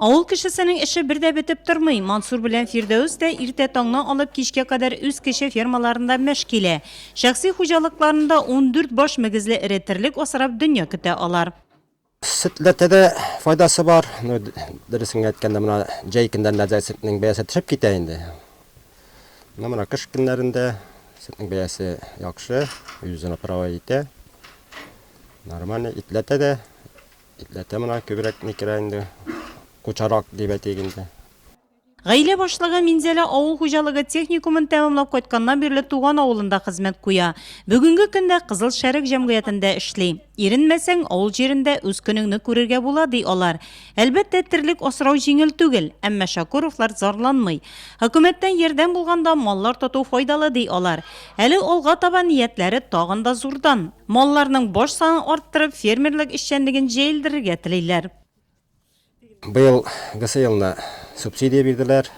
Авыл кешесенең эше бер дә бетеп тормый. Мансур белән Фирдәүс тә иртә таңнан алып кичкә кадәр үз кече фермаларында мәш килә. Шәхси хуҗалыкларында ундүрт баш мөгезле эре терлек асрап дөнья көтә алар. Сөтләрдә дә файдасы бар. Ну, дөресен генә әйткәндә, менә җәй көннәрендә сөтнең бәясе төшеп китә инде. Ну, менә кыш көннәрендә сөтнең бәясе яхшы, үзен управлять итә. Нормально, итләрдә дә Итләтә моны күбрәк ни керә инде, кучарак дип әйтик инде. Гаилә башлыгы Минзәлә авыл хуҗалыгы техникумын тәмамлап кайтканнан бирле туган авылында хезмәт куя. Бүгенге көндә Кызыл Шәрык җәмгыятендә эшли. Иренмәсәң, авыл җирендә үз көнеңне күрергә була, ди алар. Әлбәттә, терлек асрау җиңел түгел, әмма Шакуровлар зарланмый. Хөкүмәттән ярдәм булганда, маллар тоту файдалы, ди алар. Әле алга таба ниятләре тагын да зурдан. Малларның баш санын арттырып, фермерлык эшчәнлеген җәелдерергә телиләр. Быел гысы елны субсидия бирделәр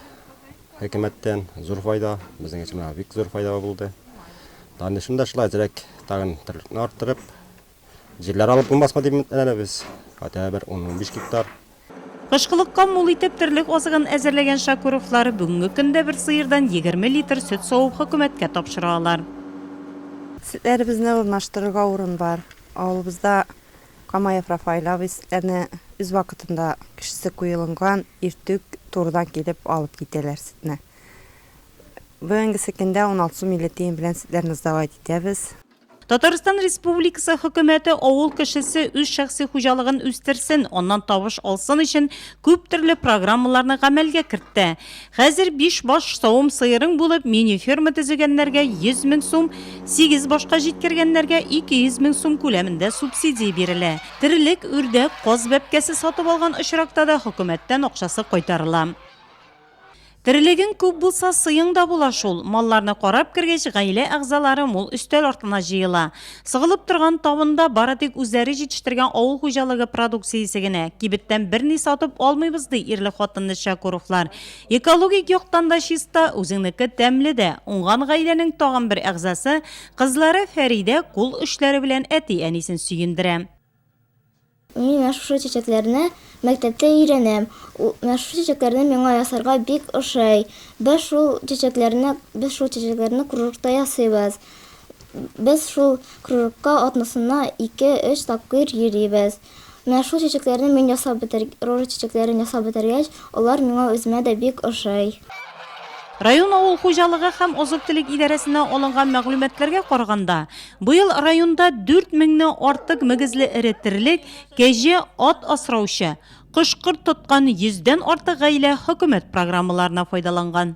хөкүмәттән. Зур файда, безнең өчен бик зур файда булды. Данышым да шулай, әзрәк тагын терлкне арттырып, Җирләр алып булмасмы дип өметләнәбез без. Хәтта бер 10-15 гектар. Кышкылыкка мул итеп терлек азыгын әзерләгән Шакуровлар бүгенге көндә бер сыердан 20 литр сөт савып хөкүмәткә тапшыра алар. Сөтләребезне урнаштырырга урын бар. Авылыбызда Камаев Рафаэль абый сөтләрне үз вакытында кешесе куелынган иртүк турыдан килеп алып китәләр сөтне. Бүгенгесе көндә 16 сум 50 тиен белән сөтләрне сдавать итәбез. Татарстан Республикасы Хөкүмәте авыл кешесе үз шәхси хуҗалыгын үстерсен, аннан табыш алсын өчен күп төрле программаларны гамәлгә кертте. Хәзер биш баш савым сыерың булып, мини-ферма төзегәннәргә 100 мең сум, сигез башка җиткергәннәргә 200 мең сум күләмендә субсидия бирелә. Терлек, үрдәк, каз бәбкәсе сатып алган очракта да хөкүмәттән акчасы кайтарыла. Терелегең күп булса, сыең да була шул. Малларны карап кергәч, гаилә әгъзалары мул өстәл артына җыела. Сыгылып торган табында бары тик үзләре җитештергән авыл хуҗалыгы продукциясе генә. Кибеттән берни сатып алмыйбыз, ди ирле-хатынлы Чакуровлар. Экологик яктан да чиста, үзеңнеке тәмле дә. Уңган гаиләнең тагын бер әгъзасы, кызлары Фәридә кул эшләре белән әти-әнисен сөендерә. Мин менә шушы чәчәкләрне мәктәптә өйрәнәм. Менә шушы чәчәкләрне миңа ясарга бик ошый. Без шул чәчәкләрне, без шул чәчәкләрне кружокта ясыйбыз. Без шул кружокка атнасына ике-өч тапкыр йөрибез. Менә шул чәчәкләрне мин ясап бетер, рожа чәчәкләрен ясап бетергәч, алар миңа үземә дә бик ошый. Район авыл хуҗалыгы һәм азык-төлек идарәсеннән алынган мәгълүматларга караганда, Быел районда 4 меңне артык мөгезле эре терлек, кәҗә, ат асраучы, кош-корт тоткан йөздән артык гаилә хөкүмәт программаларына файдаланган.